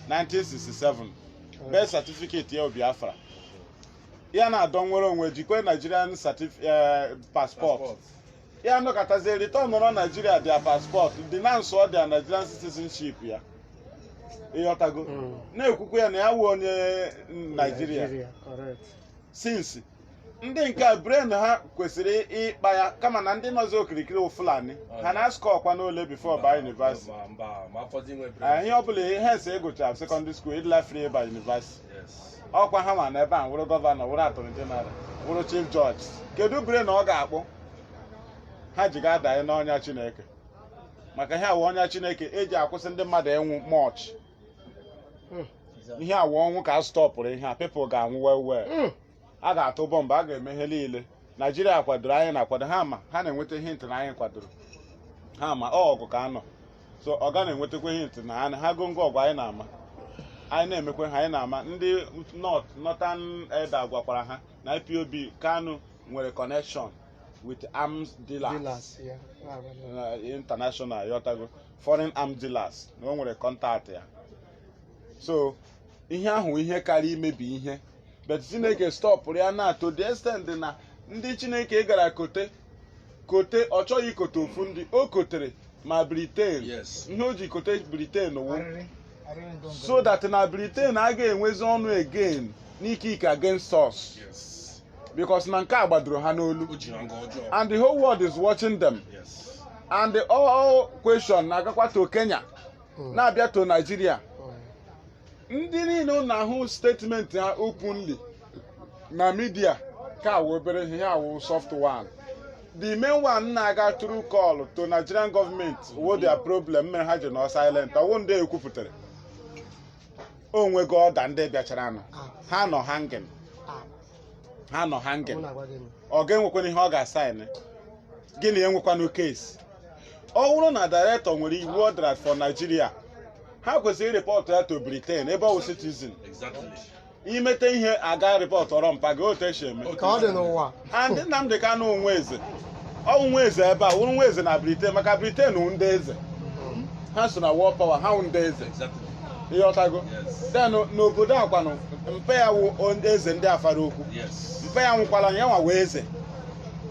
1967 birth certificate ya Biafra ya na-adọ nwere onwe jikwe Nigerian certif- eh, passport ya nọkatazie returnọrọ Nigeria their passport denounce their Nigerian citizenship ya ịghọtago Mm. na-ekwukwa ya na ya wụ onye Nigeria Nigeria, correct. since ndị nke a brain ha kwesịrị ịkpa ya kama na ndị nọzi okirikiri wụ fulani ha na-askọ ọkwa n'ole before ịba yunivasiti Ma- mba ma afọzi nwe bre ihe ọ bụla ihe ese ịgụcha sekọndịrị skuul ịdịla free ịba yunivasiti yes ọkwa ha ma na ebe a wụrụ gọvanọ wụrụ attorney general wụrụ chief judge kedu brain na ọ ga-akpụ ha ji ga-adanye n'ọnya chineke maka ihe a wụ ọnya chineke eji akwụsị ndị mmadụ ịnwụ much ihe a wụ ọnwụ ka a stọpụrụ ihe a people ga-anwụ well well a ga-atụ bọmbụ a ga-eme ihe niile naijiria kwadoro anyị na-akwado ha ma ha na-enweta hint na anyị kwadoro ha ma ọ ọgụ ka a nọ so ọ ga na-enwetakwa hint na ha goo ngwa ọgụ anyị na-ama anyị na-emekwa ha anyị na-ama ndị North Northern elder gwakwara ha na IPOB Kanu nwere connection with arms dealers Dealers, yeah. Ah, well, uh, international ịghọtago foreign arms dealers na o nwere contact ya so ihe ahụ ihe kaara imebi ihe but chineke stọpụrụ ya na to the extent na ndị chineke gara kote kote ọ chọghị ikote ofu ndị o kotere ma briten Yes. ihe o ji kote briten wụ Arịrị. Arịrị ndụ ndụ. so that na briten a ga-enwezi ọnụ again n'ike ike against us Yes. because na nke a gbadoro ha n'olu O ji ha nga ọjọọ. and the whole world is watching them Yes. and the all question na-agakwa to kenya Mm. na-abịa to naijiria Mm. ndị niile unu hụ statement ha openly na media ka wụ obere ihe ha wụ soft one the main one na-aga through call to nigerian government wụ their problem mere ha ji nọ silent ọ wụ ndị e kwupụtara o nwego ọda ndị bịachara nụ Ah. ha nọ hanging ha nọ hanging ọ ga-enwekwana ihe ọ ga-asaịnị gịnị enwekwanụ case ọ bụrụ na director nwere iwu ọ dara for Nigeria ha kwesịrị rịpọtụ ya to Britain ebe ọ bụ citizen Exactly. i mete ihe a ga-arịpọtụrụ mpa gị otu e si eme ka ọ dị n'ụwa and Nnamdi Kanu wụ nwa eze ọ wụ nwa eze ebe a wụrụ nwa eze na briten maka briten wụ ndị eze ha so na world power ha wụ ndị eze Exactly. ịghọtago Yes. then n'obodo a kwanụ mpe ya wụ onye eze ndị Afaraukwu Yes. mpe ya nwụkwara ya nwa wee eze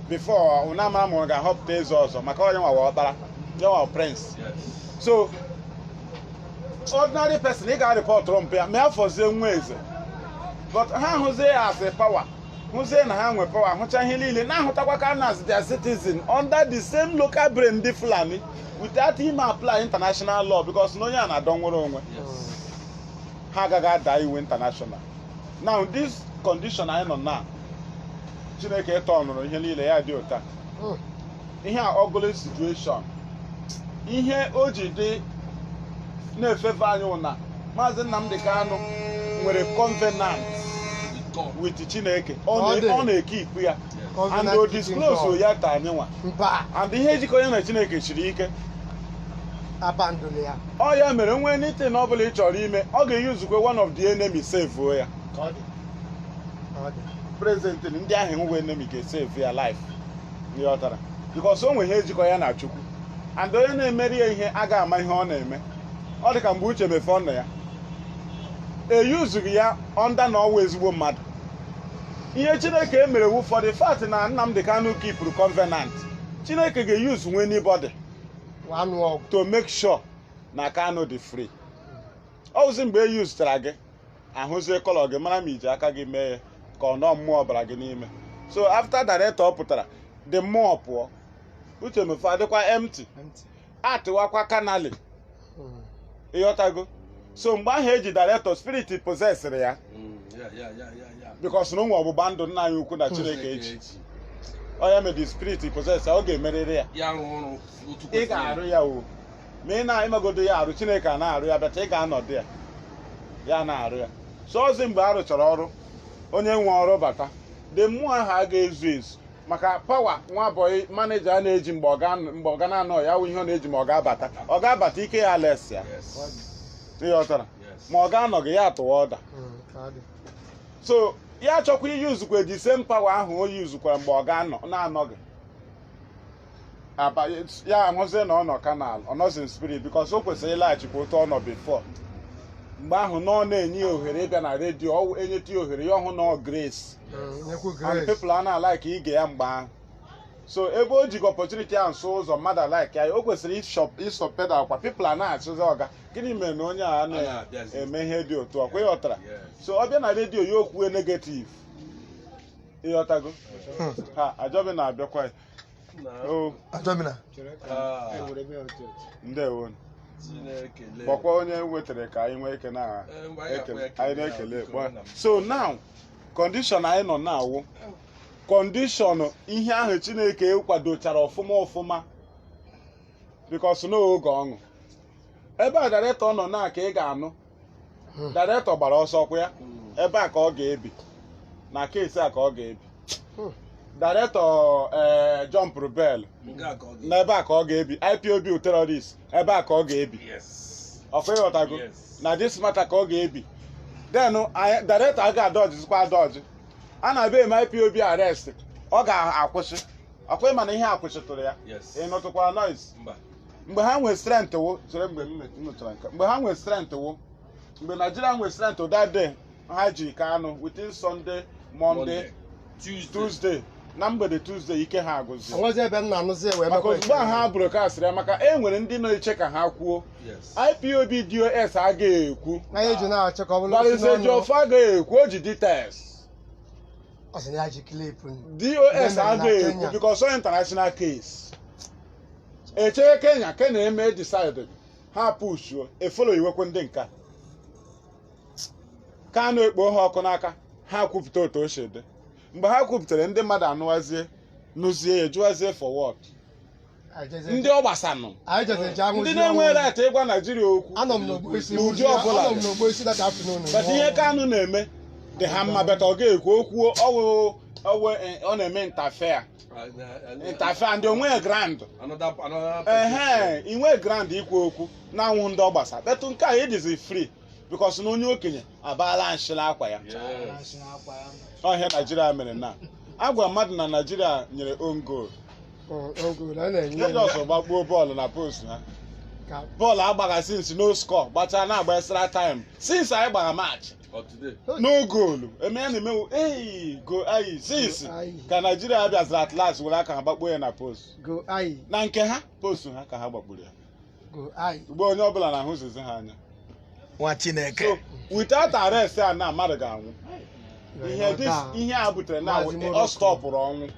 before unu amara ma ọ ga-ahọpụta eze ọzọ maka onye nwa wee ọkpara ya nwa prince Yes. so ordinary person ị ga-arịpọtụrụ mpe ya ma ya fọzie nwa eze but ha hụzie ya asị pawa hụzie na ha nwe pawa hụcha ihe niile na-ahụtakwa Kanu as their citizen under the same local brain ndị fulani without him apply international law because na onye a na-adọ nnwere onwe ha agaghị ada iwu international now this condition anyị nọ na chineke tọnụrụ ihe niile ya dị otu a ihe a ugly situation ihe o ji dị na favour anyị wụ na maazị Nnamdi Kanu nwere covenant with Chineke ọ na-ekipu ya and o disclose ya to anyị nwa and ihe jikọ ya na Chineke siri ike ọ ya mere na anything ọ bụla ị chọrọ ime ọ ga-eyuzukwa one of the enemy sevuo ya prezident ndị ahụ e nwe enemy ga-esevu ya life ịghọtara bikọs o nwe ihe jikọ ya na chukwu and onye na-emere ya ihe a ga-ama ihe ọ na-eme ọ dị ka mgbe Uche Mefor nọ ya eyuzu ya ọnda na ọ wụ ezigbo mmadụ ihe chineke emere wụ for the fact na Nnamdi Kanu kipụrụ covenant chineke ga-eyuzunwu anybody wee nụọ ọgụ to make sure na kanu dị free ọ wụzi mgbe e yuzuchara gị ahụzie kọlọ gị mara ma i ji aka gị mee ya ka ọ na mmụọ bara gị n'ime so after director pụtara the mmụọ pụọ Uche Mefor adịkwa empty atịwakwa kanali ịghọtago so mgbe ahụ e ji director spirit possesịrị ya bikos na o nwe ọgbụgba ndụ nna anyị ukwu na chineke eji ọ ya mee the spirit possess ya ọ ga-emerịrị ya ị ga-arụ ya o ma ị na-amagodo ya arụ chineke a na-arụ ya bata ị ga-anọdụ ya na-arụ ya so ọzi mgbe a rụchara ọrụ onye nwe ọrụ bata the mmụọ ahụ a ga-ezu ezu maka pawa nwa bọyị maneja a na-eji mgbe ọga na-anọghị ya wụ ihe ọ na-eji ma ọga bata ọga bata ike ya les ya ịghọtara ma ọga anọghị ya atụwa ọda so ya chọkwa iyuzukwa the same power ahụ o yuzukwara mgbe ọga na-anọghị ya ahụzie na ọ nọ kanal ọ nọzi in spirit bikos o kwesịrị ịlaghachikwa otu ọ nọ bifo mgbe ahụ na ọ na-enye ya ohere ịbịa na redio e nyeta ya ohere ya hụ na ọ grace and people a na-alaiki ige ya mgbe ahụ so ebe o jigo opportunity ahụ so ụzọ mmadụ alaiki ya o kwesịrị ịsoft pedal ọkwa people a na-ajụzi ọga gịnị mere na onye a na-eme ihe dị otu a ọkwa ịghọtara so ọ bịa na redio ya ekwuo negativ ịghọtago ha ajọbi na-abịakwa ya o ndewo kpọkwa onye wetara ka anyị nwee ike anyị na-ekele so now condition anyị nọ na ya wụ condition ihe ahụ chineke kwadochara ọfụma ọfụma because n'oge ọṅụ ebe a director nọ na ka ị ga-anụ Hmm. director gbara ọsọ kwa ya ebe a ka ọ ga-ebi na case a ka ọ ga-ebi Hmm. director ee jumpụrụ bail Nke a ka ọ ga- na ebe a ka ọ ga-ebi ipob terrorist ebe a ka ọ ga-ebi Yes. ọkwa ịghọtago Yes. na this matter ka ọ ga-ebi then director a ga-adọjizikwa adọji a na-abịa eme ipob arrest ọ ga-akwụsị ọkwa ịma na ihe akwụsịtụrụ ya Yes. ị nụtụkwara noise Mba. mgbe ha nwere strength wụ chere mgbe m met- m nụchara nke a. mgbe ha nwere strength wụ mgbe naijiria nwere strength that day ha ji Kanu within sunday monday Tuesday. tuesday na mgbede tuesday ike ha agwụzi onwezi ebe m na-anụzi ya wee maka mekwa ozugbo a ha broadcastịrị ya maka e nwere ndị na-eche ka ha kwuo Yes. ipob dos agaghị ekwu anyị eji na-achọ ka ọ bụrụ o si n'ọnụ. Barrister Ejiofor agaghị ekwu o ji details ọ sị na ya ji clip dos Women na agaghị ekwu Kenya. because ọ international case echee kenya kenya eme decide ha pushuo efolo iwekwe ndị nka Kanu ekpo ha ọkụ n'aka ha kwupụta otu o shi dị mgbe ha kwupụtara ndị mmadụ anụwazie nụzie ya jụwazie for what ndị ọ gbasanụ anyị jezi eji anwụ ndị zie na-enwe ọnwụ. right ịgwa naijiria okwu anọ m n'ogbo isi N'ụdị nwụzie- ọbụla. anọ m n'ogbo isi that afternoon but ihe Kanu na-eme dị ha mma better ọ ga-ekwu okwu ọwụ ọwụ ọ na-eme interfere interfere and o nwe ground ehe inwe ground ikwu okwu na anwụ ndị ọ gbasa but nke a ịdịzi free because na onye okenye abaala nshị la akwa ya ọ ihe naijiria mere na agwa mmadụ na naijiria nyere own goal jejọs gbakpuo bọọlụ na post ha bọọlụ a gbagha since no score gbachaa na-agba extra time since anyị gbara match no goal eme ya na-emewu ei go ayi since ka naijiria ha bịaziri at last were aka ha gbakpuo ya na post go ayi na nke ha post ha ka ha gbakpuru ya go ayi ugbu a onye ọbụla na-ahụzizi ha anya nwa chineke so without arrest a na mmadụ ga-anwụ ihe this ihe a butere na ọ stọpụrụ ọnwụ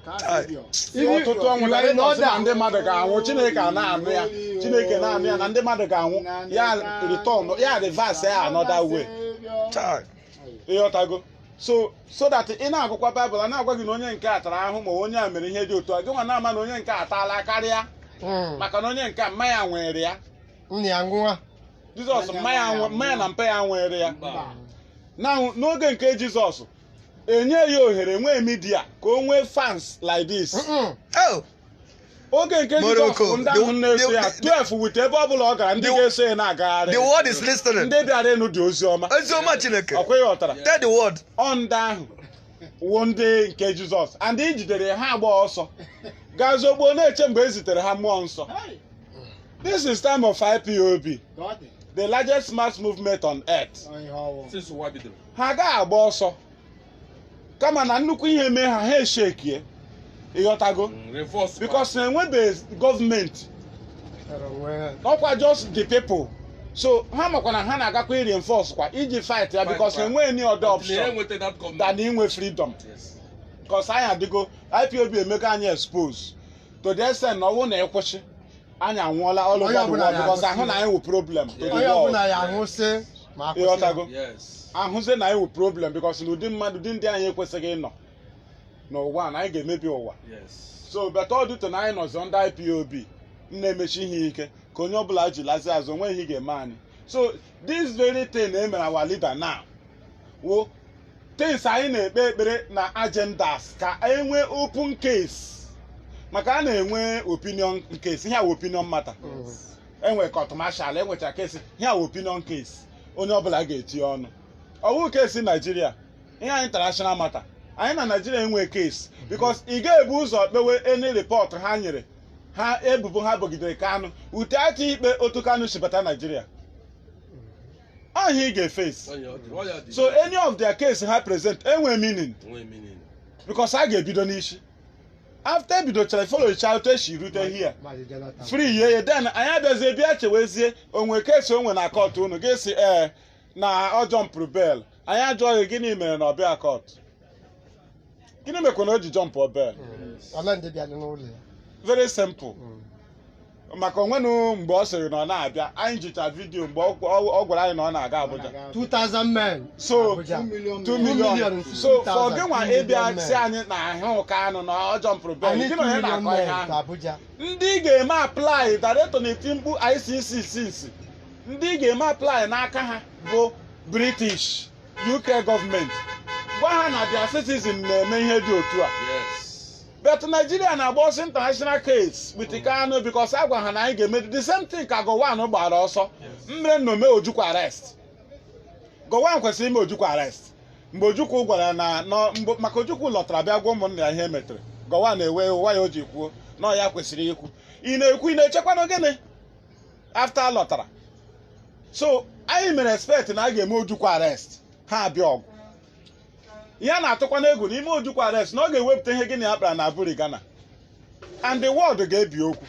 ọtụtụ ọnwụ na ndị ọ sị na ndị mmadụ ga-anwụ chineke a na-anụ ya chineke na-anụ ya na ndị mmadụ ga-anwụ ya return ya reverse ya another way Chai. ịghọtago so so that ị na-agụkwa baịbụl a na-agwa gị na onye nke a tara ahụhụ ma onye a mere ihe dị otu a gị nwa na-ama na onye nke a taala karịa Mm. maka na onye nke a mma ya nwere ya Nne ya nwa. jizọs mma ya nwe- mma ya na mpa ya nwere ya Mba. na n'oge nke jizọs enye ya ohere nwee media ka o nwee fans like this Mm-mm. Oh, oge nke Morocco, Jizọs bụ ndị ahụ the- na-eso ya the- 12 with ebe ọ bụla ọ gara ndị the- ga-eso ya na-agagharị the world is listening. ndị bịara ịnụ dị ozi ọma Ezioma Chineke. ọkwa ịghọtara Tell the world. ọ ndị ahụ wụ ndị nke Jizọs and e jidere ha agba ọsọ gaa zogbo na-eche mgbe e zitere ha mmụọ nsọ this is time of IPOB the largest mass movement on earth Since ụwa bidoro. ha agaghị agba ọsọ kama na nnukwu ihe mee ha ha eshekie ịghọtago Mm, reverse. because enwebeghị gọọmenti ọkwa just the people so ha makwa na ha na-agakwa reinforce kwa iji fight ya because enweghị any other Until ya option enweta that government. than inwe freedom Yes. because anyị adịgo IPOB emego anyị expose to the extent na ọ wụ na ị kwụsị anyị anwụọla all Onye ọbụla ya because a hụ na anyị wụ problem to the onye world. ọbụla ya ahụ sị ma akwụsị ịghọtago Yes. a hụzie na anyị wụ problem because na ụdị mmadụ ụdị ndị anyị ekwesịghị ịnọ n'ụwa a, na anyị ga-emebi ụwa Yes. so better ọdụtụ na anyị nọzi under IPOB na-emeshi ihe ike ka onye ọbụla ji lazi azụ o nwe ihe ị ga-eme anyị so this very thing e mere our leader now wụ things anyị na-ekpe ekpere na agendas ka e nwe open case maka a na-enwe opinion case ihe a wụ opinion matter enwe court martial enwecha case ihe a wụ opinion case onye ọbụla ga-etinye ọnụ ọ wụ case naijiria ihe a wụ international matter anyị na naijiria enwe case because ị ga-ebu ụzọ kpewe any report ha nyere ha ebubo ha bogidere kanụ ute atụ ikpe otu kanụ si bata naijiria ọ ihe ị ga-face Onye ọ dị- ọ ya dị. so any of their case ha present enwe meaning Enweghị meaning. because a ga-ebido n'isi after ebidochara followcha otu e si rute here Maazị Jonathan. free ye ye then anyị abịazie bịa chewezie o nwe case o nwe na court unu ji sị ee na ọ jumpụrụ bail anyị ajụọ gị gịnị mere na ọ bịa court gịnị mekwa na o ji jump bail ọla ndị bịa n'ụlọ ya very simple maka o nwenụ mgbe ọ sịrị na ọ na-abịa anyị jicha video mgbe ọ ọ- ọ gwara anyị na ọ na-aga Abuja 2000 men so Abuja. 2 Two million million so for 2,000, gị nwa two million ịbịa men. sị anyị na ahụ Kanụ na ọ jumpụrụ bail anyị gị na onye 2 million na-akọ ihe men ahụ to Abuja ndị ga-eme apply direct na-eti mkpu ICC ICC ndị ị ga-eme apply n'aka ha bụ british uk gọọmenti gwa ha na their citizen na-eme ihe dị otu a but nigeria na-agba ọsọ international case with Kanu because a gwa ha na anyị ga-eme the same thing ka Gowon gbara ọsọ mere na o me ojukwu arrest Gowon kwesịrị ime ojukwu arrest mgbe ojukwu gwara na nọ- mgbe- maka ojukwu lọtara bịa gwa ụmụnna ya ihe metere Gowon ewe iwe ya o ji kwuo na ọ ya kwesịrị ikwu ị na-ekwu ị na-echekwanụ gịnị after a lọtara so anyị mere expect na a ga-eme ojukwu arrest ha abịa ọgụ ihe a na-atụkwanụ egwu n'ime ojukwu arrest na ọ ga-ewepụta ihe gị na ya kpara na Aburi Ghana and the world ga-ebi okwu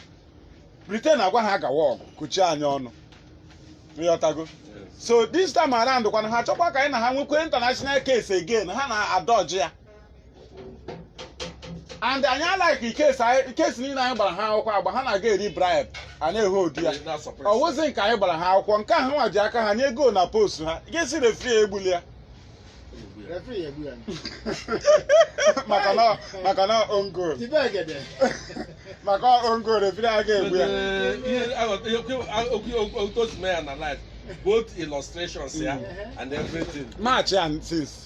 Britain agwa ha gawa ọgụ kuchie anyị ọnụ ịghọtago so this time around kwanụ ha chọkwa ka anyị na ha nwekwa international case again ha na-adọji ya and anyị alaghị ikesi anyị- case niile anyị gbara ha akwụkwọ agba ha na-aga eri bribe a na-ehold ya ọ wụzi nke anyị gbara ha akwụkwọ nke ha nwa ji aka ha nye goal na post ha ga-asị referee a egbula ya Referee egbu ya. maka na maka na own goal Tibe egede. maka own goal referee a ga-egbu ya otu o si mee ya na life both illustrations ya and everything match ya since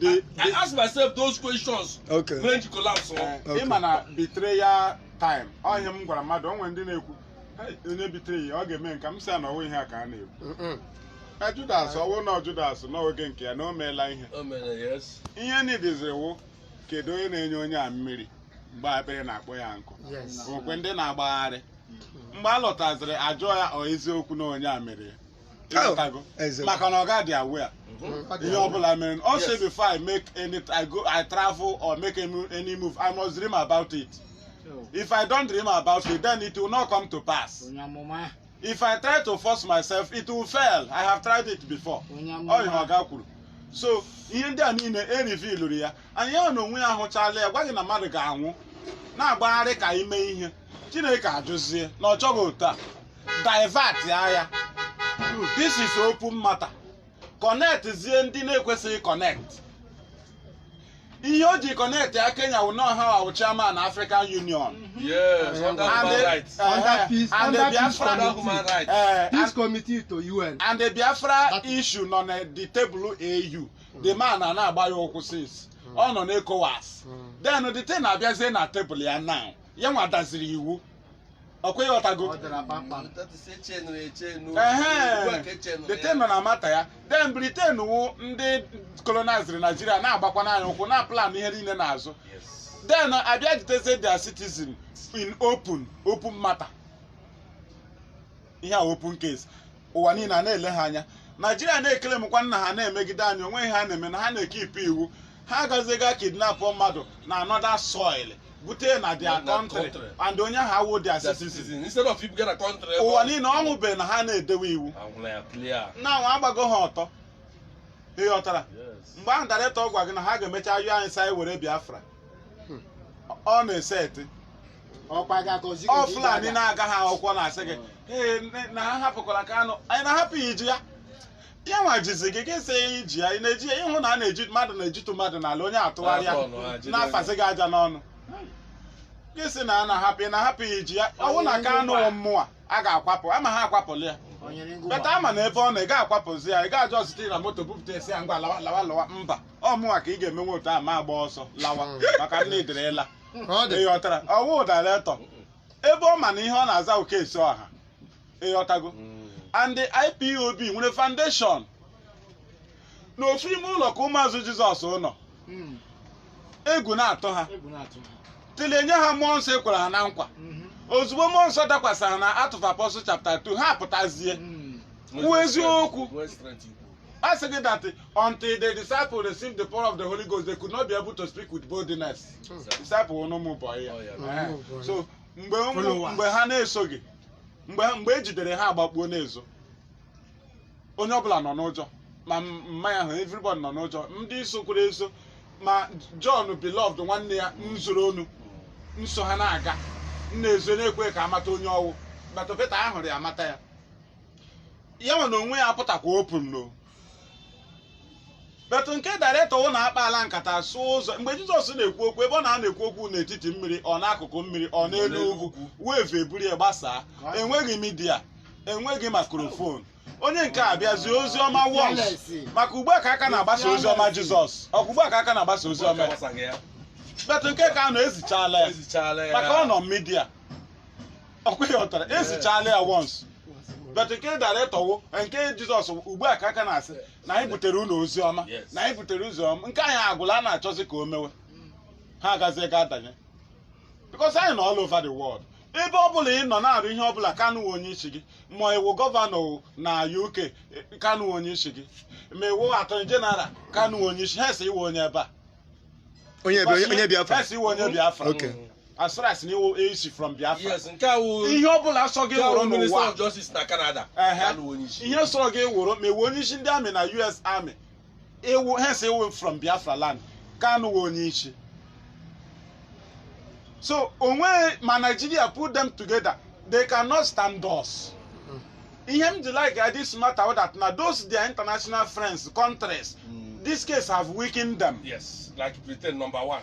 the, I the, ask myself those questions okay when the collapse ọ. eh, Okay. ịma na betrayal time ọ ihe m gwara mmadụ o nwere ndị na-ekwu "Hey, onye betray ya ọ ga-eme nke m sị ya na ọ wụ ihe a ka a na-ekwu Mm-mm. na judas ọ wụ na judas na oge nke ya na o meela ihe O mere yes. ihe nidiziri wụ kedu onye na-enye onye a mmiri mgbe akpịrị na-akpọ ya nkụ yes ọkwa ndị na-agbagharị mgbe a lọtaziri ajụọ ya ọ eziokwu na onye a mere ya Ịghọtago? Eze. maka na ọ ga-adị aware ihe ọbụla mere ọ sị Yes. before I make any I go I travel or make any mo- any move I must dream about it if I don't dream about it then it will not come to pass onye amụma if I try to force myself it will fail I have tried it before onye ọ ihe amụma oga kwuru so ihe ndị a niile erivilụrụ ya and ya na onwe ya ahụchala ya gwa gị na mmadụ ga-anwụ na-agbagharị ka i mee ihe chineke ajụzie na ọ chọghị otu a divert ya ya this is open matter connect zie ndị na-ekwesịghị connect ihe o ji connect ya kenya wụ na ọ ha wụ chairman african union Yes, under And human the- rights. eh, Under eh, peace- and the under peace Biafra- Under human rights. eh, Peace committee to UN. and the biafra That- issue nọ na the table AU the man a na-agba ya ụkwụ since ọ nọ n'ecowas then the thing na-abịazie na table ya now ya nwa daziri iwu ọkwa ịghọtago Ọ dara kpamkpam. Britain nọ na matter ya then Britain wụ ndị koloniziri naijiria na-agbakwanụ anyị ụkwụ na plan ihe niile n'azụ then abịa jitezie their citizen in open open matter ihe a open case ụwa niile a na-ele ha anya naijiria na-eclaim kwanụ na ha na-emegide anyị o nweghị ihe ha na-eme na ha na-ekeep iwu ha agaziga kidnap mmadụ na another soil bute na their Na- na country country. and onye ahụ awụ their Their citizen citizen. Instead of people get country. ebe ụwa ọ- niile ọ wụbeghị na ha na-edewe iwu Ahụla ya clear. na anwa agbago ha ọtọ ị ghọtara Yes. mgbe ahụ director gwa gị na ha ga-emecha yọọ anyị sị anyị were biafra ọ na-eseti ọkwa gị agọzi gị ọ ka ị fulani ga-aga. na-agaghị akwụkwọ na-asị gị ee nne- na ha hapụkwara Kanu anyị na-ahapụ ya iji ya ya nwa jizi gị gị sị ya iji ya ị na-eji ya ịhụ na a na-eji mmadụ na-ejitu mmadụ n'ala onye atụgharịa Afọ ọnụ ha jide na-afazi gị aja n'ọnụ gị sị na a na-ahapụ ị na-ahapụ ya iji ya ọwụ na Kanu wụ mmụọ a ga-akwapụ ama ha akwapụla ya O nyere ngụ beta ama na ebe ọ nọ ị ga-akwapụzi ya ị ga-ajụ ọzụta ị na moto bupụta a sị ya ngwa lawa lawa lawa mba ọ mụnwa ka ị ga-emenwe otu a mụ agba ọsọ lawa maka nne ịdịrịla ka ọ dị ịghọtara ọwụ director ebe ọ ma na ihe ọ na-aza bụ case ọha ịghọtago and the IPOB nwere foundation nọ ofu ime ụlọ ka ụmụazụ jizọs nọ Mm. egwu na-atụ ha Egwu na-atụ ha. till e nye ha mmụọ nsọ e kwere ha na nkwa Mhm. ozugbo mmụọ nsọ dakwasara na Acts of Apostles chapter 2 ha pụtazie Mm. kwuo eziokwu Nwee strength ikwu. a sị gị that until the disciple received the power of the holy ghost they could not be able to speak with boldness disciple wụnụ ụmụ boy ya Oh, yeah. Eh, Ụmụ boy. so mgbe ụmụ- Followers. mgbe ha na-eso ya mgbe ha- mgbe e jidere ha agbakpuo n'ezo onye ọbụla nọ n'ụjọ ma m- mma ya hụ everybody nọ n'ụjọ ndị isokwara eso ma John beloved nwanne ya m zoro onu nso ha na-aga m na-ezo na-ekwe ka amata onye ọwụ but Pita a hụrụ ya amata ya ya nwa na onwe ya apụtakwa open nọ but nke director wụ na akpaala nkata sụ ụzọ mgbe jizọs na-ekwu okwu ebe ọ nọ na-ekwu okwu n'etiti mmiri or n'akụkụ mmiri or n'elu ugwu wave eburu ya gbasaa enweghị media enweghị microphone onye nke a bịa zie ozi ọma once maka ugbu a ka a ka na-agbasa ozi ọma jizọs ọkwa ugbu a ka a ka na-agbasa ozi ọma ya. but nke Kanu ezichala ya maka ọ nọ media ọkwa ị ghọtara ezichala ya once but nke director wụ nke jizọs ugbu a ka a ka na-asị na anyị butere unu ozi ọma Yes. na anyị butere ozi ọma nke anyị agwụla a na-achọzi ka o mewe ha agazie ga adanye because anyị nọ all over the world ebe ọ bụla ị nọ na-arụ ihe ọ bụla Kanu onye isi gị ma ị wụ governor o na UK eh, Kanu onye isi gị ma ị wụ attorney general Kanu onye isi hence ị wụ onye ebe a onye bi- onye biafra hence ị wụ onye biafra Okay. as far as na ị wụ ị si from biafra yes nke a wụ ihe ọ bụla sọ gị nke a wụrụ wụ minister n'ụwa of justice na canada Ehe. Kanu onye isi ihe sọrọ gị wụrụ ma ị wụ onye isi ndị army na US army ị wụ hence ị wụ from biafra land Kanu wụ onye isi so onwe ma nigeria put them together they cannot stand us ihe m ji like this matter wụ that na those their international friends countries Mm. this case have weakened them yes like britain number one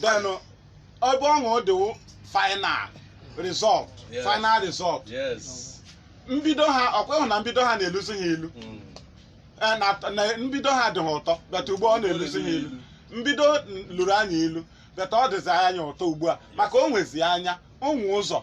then ebe ọṅụ dị wụ final result Yes. final result Yes. mbido ha ọ kwa ị hụ na mbido ha na-eluzi ha ilu Mm. Eh, na- na mbido ha dị ha ụtọ but ugbu a ọ na-eluzi ha ilu mbido n- luru anyị ilu but ọ dịzi anyị ụtọ ugbu a maka o nwezi anya onwe ụzọ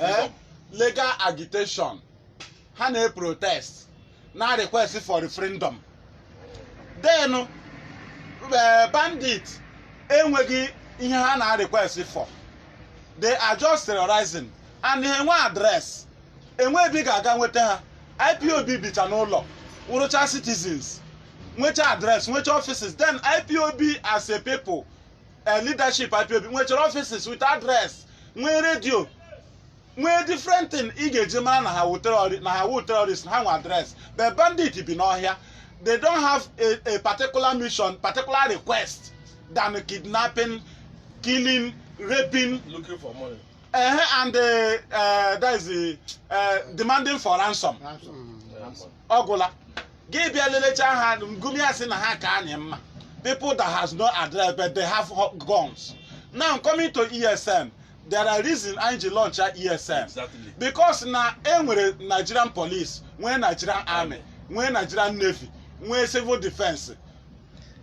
eh, legal agitation ha na-eprotest na-arequest for referendum then eh, bandit enweghị ihe ha na-arequest for they are just terrorizing and ha enwe address enwe ebe ị ga-aga nweta ha IPOB bicha n'ụlọ wụrụcha citizens nwecha address nwecha offices then IPOB as a people eh, leadership IPOB nwechara offices with address nwee radio nwee different thing ị ga-eji mara na ha awụ terrori- na ha awụ terrorist na ha nwe address the bandit bi n'ọhịa they don't have a, a particular mission particular request than kidnapping killing raping looking for money. uh, and uh, uh, that is the, uh, demanding for ransom Ransom. Yeah, money. ọ gwụla gị bịa lelecha ha Gumi asị na ha ka anyị mma people that has no address but they have ho- guns now coming to ESN there are reason anyị ji launchịa ESN Exactly. because na e nwere nigerian police nwee nigerian army nwee nigerian navy nwee civil defence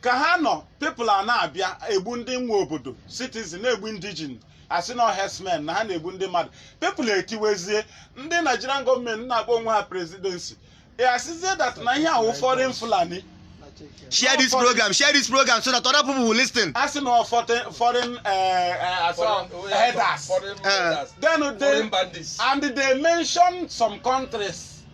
ka ha nọ people a na-abịa egbu ndị nwe obodo citizen na-egbu indigene asị na herdsmen na ha na-egbu ndị mmadụ people etiwezie ndị nigerian government na-akpọ onwe ha presidency e asịzie that na ihe a wụ foreign Fulani share this program share this program so that other people will listen asị na ọ fote- foreign eh, eh, asị ọ herders Foreign Eh. herders. then Foreign they bandits. and they mention some countries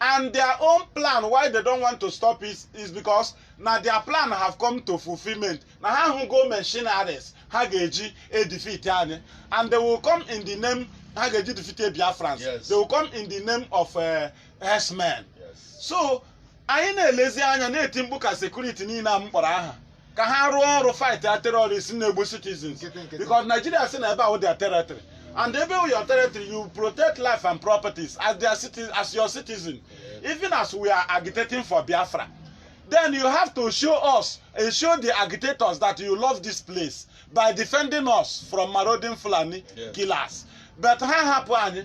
and their own plan why they don't want to stop is because na their plan have come to fulfilment na ha hụgo machineries ha ga-eji edefeat anyị and they will come in the name ha ga-eji defeat Biafrans Yes. they will come in the name of uh, herdsmen Yes. so anyị na-elezi anya na-eti mkpu ka security niile a m kpọrọ aha ka ha rụọ ọrụ fight a terrorist na-egbu citizens Nkịtị, nkịtị. because Nigeria si na ebe ahụ their territory and ebe wụ your territory you protect life and properties as their citi as your citizen even as we are agitating for Biafra then you have to show us and show the agitators that you love this place by defending us from marauding Fulani Yes. killers but ha hapụ anyị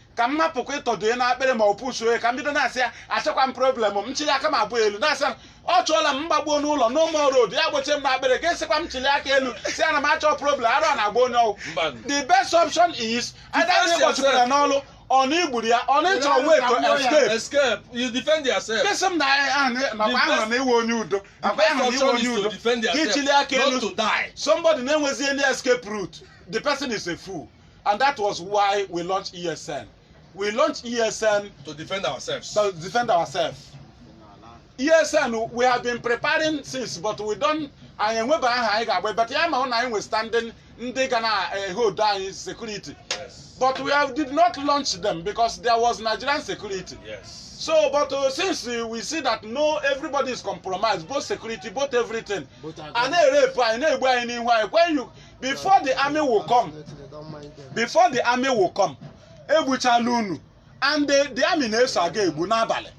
ka m napụkwa ịtọdue n'akpịrị ma ọ pụsụ oyi ka m bido na-asị ya achọkwa m problem m chili aka m abụọ elu na-asị ya ọ chụọla m m gbakpuo n'ụlọ no more road ya gbochie m n'akpịrị ka esikwa m chili aka elu sị ana m achọ problem ara na-agba onye ọ wụ Mba. the best option is either Defense na ịgbochipụ ya yourself. n'olu ọ na igburu ya ọ na ịchọ way to escape escape you defend yourself Kesi m na ahụ nakwa The ahụrụ best- na ị wụ onye udo the nakwa best ahụrụ na ị wụ option onye is to udo defend ka yourself ichili aka not elu to die somebody na-enwezi any escape route the person is a fool And that was why we launched ESN. We launched ESN to defend ourselves. to defend ourselves. ESN, we have been preparing since, but we don't, anyị enwebe aha anyị ga-aba but ya ma hụ na anyị nwe standing ndị ga na-ehold anyị security. Yes. But we have, did not launch them because there was Nigerian security. Yes. So, but uh, since uh, we see that no, everybody is compromised, both security, both everything. Both are a na-erepụ anyị na-egbu anyị n'ihu anyị when you before the army will come before the army will come egbuchala unu and the, the army na-eso aga egbu n'abalị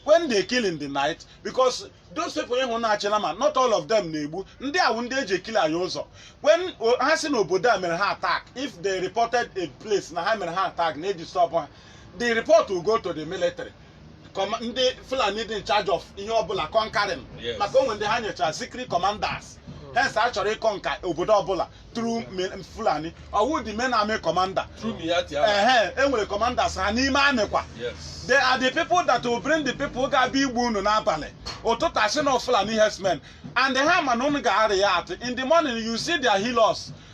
when they kill in the night because those people ị hụ na-achị nama not all of them na-egbu ndị a wụ ndị eji eclear ụzọ when o- ha si n'obodo a mere ha attack if they reported a place na ha mere ha attack na-edisturb ha the report will go to the military Kọma- ndị fulani dị in charge of ihe ọbụla conquering Yes. maka o nwee ndị ha nyochara secret commanders hence a chọrọ ịconquer obodo ọbụla through me- fulani ọ wụ the main army commander Through Miyetti Allah. ehe e nwere commanders ha n'ime army kwa Yes. they are the people that will bring the people ga-abịa igbu unu n'abalị ụtụtụ a sị na fulani herdsmen and ha ma na unu ga-areact in the morning you see their Hilux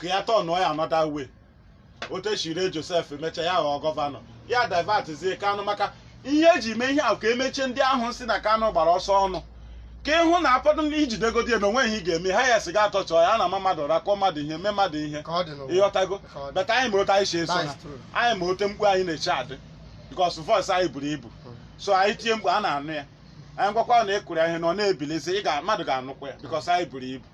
ka ya turnụọ ya another way otu e shi ree Joseph mechaa ya ghọọ governor ya divertzie Kanu maka ihe eji mee ihe ahụ ka emechie ndị ahụ sị na Kanu gbara ọsọ ọnụ ka ị hụ na ụfọdụ ndị i jidegodi eme o nwee ihe ị ga-eme ha ya sị gaa torture ya na-ama mmadụ ụra kụọ mmadụ ihe mee mmadụ ihe ka ọ dị n'ụwa ịghọtago Ka ọ dị. but anyị ma otu anyị si eso ha That's true. anyị ma otu mkpu anyị na-eti adị because voice anyị buru ibu so anyị tie mkpu a na-anụ ya anyị gwakwa na ịkụrụ ya ihe na ọ na-ebilizi ị ga mmadụ ga-anụkwa ya because anyị buru ibu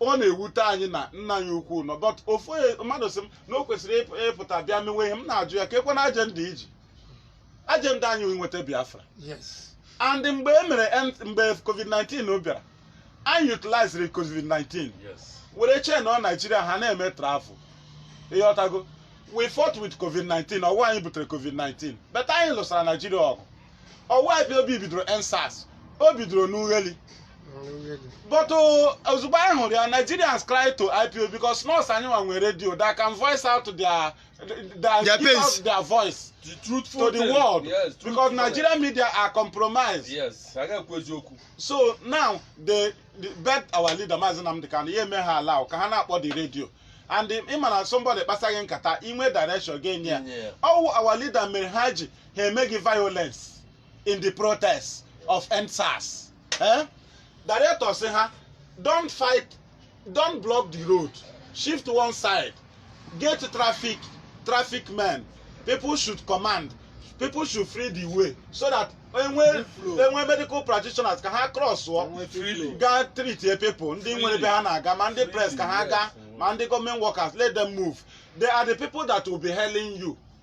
ọ na-ewute anyị na nna anyị ukwu nọ but ofu onye- mmadụ sị m na o kwesịrị ịp- ịpụta bịa mewe ihe m na-ajụ ya kekwanụ agenda i ji agenda anyị wee nweta biafra yes and mgbe e mere end- mgbe covid-19 bịara anyị utiliziri covid-19 Yes. were chainụọ naijiria ha na-eme travel ịghọtago we fought with covid-19 ọ wụ anyị butere covid-19 but anyị lụsara naijiria ọgụ ọ wụ IPOB bidoro EndSARS o bidoro n'Ughelli but uh, ozugbo anyị hụrụ ya nigerians cry to IPOB because nọọsụ anyị nwa nwere radio that can voice out their their, Their give pains. out their voice The truthful to the thing. world Yes, truthful because thing. nigerian media are compromised Yes, a ga-ekwu eziokwu. so now they, they beg our leader maazị Nnamdi Kanu ya eme ha allow ka ha na-akpọ the radio and the- ị ma na somebody kpasaa gị nkata i nwee direction ị ga-enye ya Yeah. ọ wụ our leader mere ha ji ha emeghị violence in the protest of endsars eh? director sị ha don't fight don't block the road shift one side get traffic traffic men people should command people should free the way so that enwe Free flow. enwe medical practitioners ka ha crossụọ Enwe free flow. gaa treatịa people ndị nwere ebe ha na-aga ma ndị press ka ha gaa ma ndị gọọmenti workers let them move they are the people that will be hailing you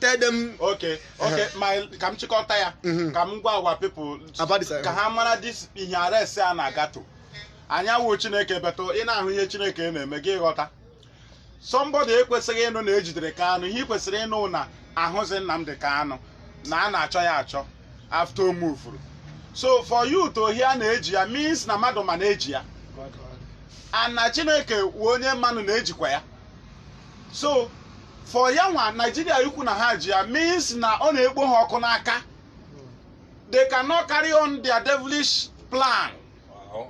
tell them okay okay my ka m chịkọta ya Mhm. ka m gwa our people About this, uh, ka ha mara this ihe arrest a na-aga though anyị awụ chineke but ị na-ahụ ihe chineke na-eme gị ghọta somebody ekwesịghị ịnụ na ejidere kanụ ihe ị kwesịrị ịnụ na ahụzi nnamdị kanụ na a na-achọ ya achọ after o movuru so for you to hear na eji ya means na mmadụ ma na eji ya and na chineke wụ onye manụ na ejikwa ya so for ya nwa naijiria ikwu na ha ji ya means na ọ na-ekpo ha ọkụ n'aka they cannot carry on their devilish plan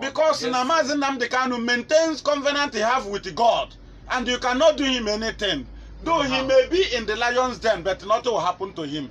because na maazị nnamdị kanu maintains covenant he have with god and you cannot do him anything though he may be in the lions den but nothing will happen to him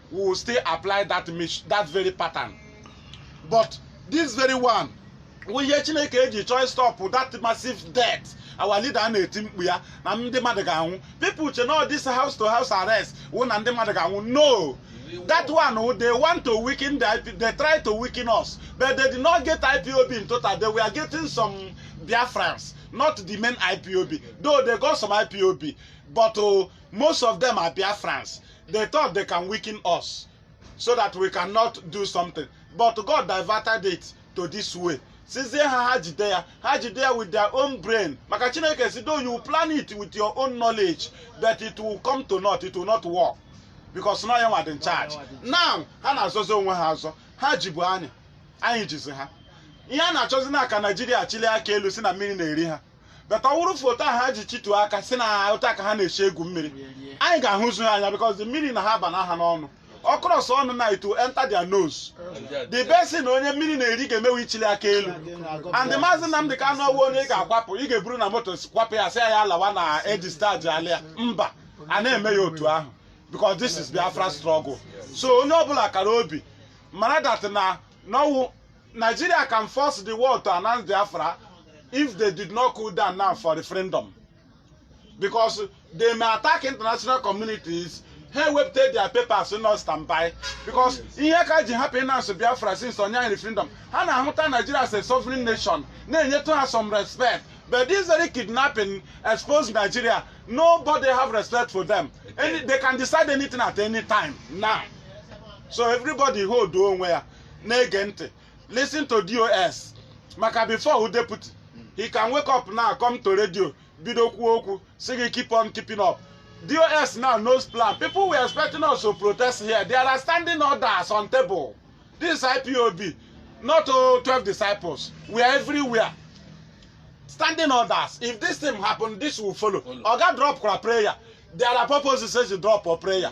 we will still apply that mis- that very pattern but this very one wụ ihe chineke eji chọọ stop that massive death our leader na-eti mkpu ya na ndị mmadụ ga-anwụ people eche na this house to house arrest wụ na ndị mmadụ ga-anwụ no that one wụ they want to weaken the IP, they try to weaken us but they did not get ipob in total they were getting some biafrans not the main ipob though they got some ipob but uh, most of them are biafrans They thought they can weaken us so that we cannot do something. But God diverted it to this way. Sịzie ha ha jide ya, ha jide ya with their own brain. Maka Chineke sị though you plan it with your own knowledge, but it will come to naught, it will not work. Because na ya nwa dị in charge. Now, ha na-azọzi onwe ha azọ. Ha jibu anyị, anyị jizi ha. Ihe a na-achọzi na ka Naijiria chịlie aka elu sị na mmiri na-eri ha. but ọwụrụ for otu ahụ ha ji chịtuo aka sị na otu a ka ha na-esi egwu mmiri anyị ga-ahụzu ha anya because the mmiri now abana ha n'ọnụ ọ cross ọnụ now it will enter their nose the best thing na onye mmiri na-eri ga-eme wụ ịchịli aka elu and the maazị Nnamdị Kanụ ọwụ onye ị ga-akwapụ ị ga-eburu na moto kwapụ ya sị ya ya lawa na e dischargeala ya mba a na-eme ya otu ahụ because this is Biafra struggle so onye ọbụla kara obi mara that na n'ọwụ Nigeria can force the world to announce Biafra if they did not cool down now for referendum. Because they may attack international communities ha ewepụta their papers nọ standby because ihe ka ji hapụ ịnansụ Biafra since onye referendum ha na-ahụta Nigeria as a sovereign nation na-enyetụ ha some respect but this very kidnapping expose Nigeria nobody have respect for them Any, they can decide anything at any time now so everybody hold onwe ya na-ege ntị listen to dos maka before who deputy he can wake up now come to radio bido kwuo okwu si gị keep on keeping up dos now knows plan people were expecting us to protest here there are standing orders on table this ipob not oh, 12 disciples we are everywhere standing orders if this thing happen this will follow Follow. oga drop kwa prayer there are purposes say you drop for prayer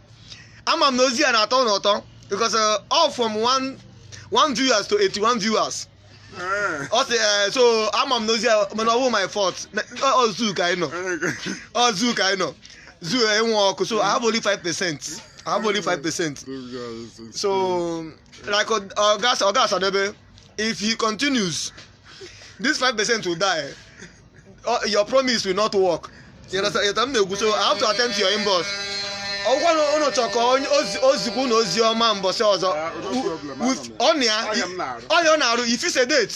ama m na ozi a na-atọ unu ụtọ because uh, all from one one viewers to 81 viewers Eh, ọ sị eh, so ama m na ozi a mana ọwụ my fault Na- ọ ọ zoo ka anyị nọ eh, ọ zoo ka anyị nọ zoo enwe ọkụ so I have only 5 percent I have only 5 percent those guys, it's- so like oga oga osadebe if he continues this five percent will die uh, your promise will not work you understand ihe m na-ekwu so i have to attend to your inbox ọ kwa na ụnụ chọ ka onye ozi- ozikwa ụnụ ozi ọma mbọsị ọzọ Ah, no problem, with anọ m ya. ọ nya Ọ nya m na-arụ. ọ nya ọ na-arụ if it's a date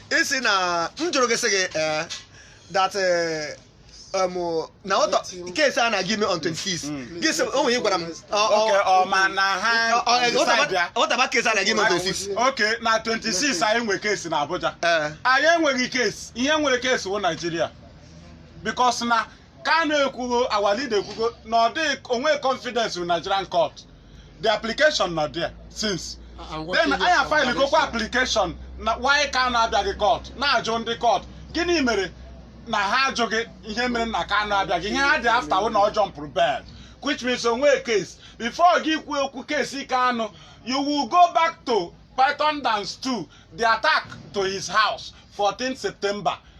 ị sị na m jụrụ gị sị gị ee that eh, em, na what of case a na-aga ime on 26 gị sị o nwere ihe ị gwara m ọ- ọ- okay ọ ma na ha ọ- ọ- decide what aba- ya. what about case a na-aga ime on 26 okay na 26 anyị nwe case na Abuja Ee. anyị enweghị case ihe nwere case wụ Nigeria because na Kanu ekwugo our leader ekwugo na ọ dịghị enwe confidence in Nigerian court the application nọ there since then anyị filegokwa application na why Kanu abịaghị court na-ajụ ndị court gịnị mere na ha ajụghị ihe mere na Kanu abịaghị ihe ha dị after wụ na ọ jumpụrụ bail which means o nwe case before gị kwuo okwu case Kanu you will go back to Python Dance 2 the attack to his house 14 September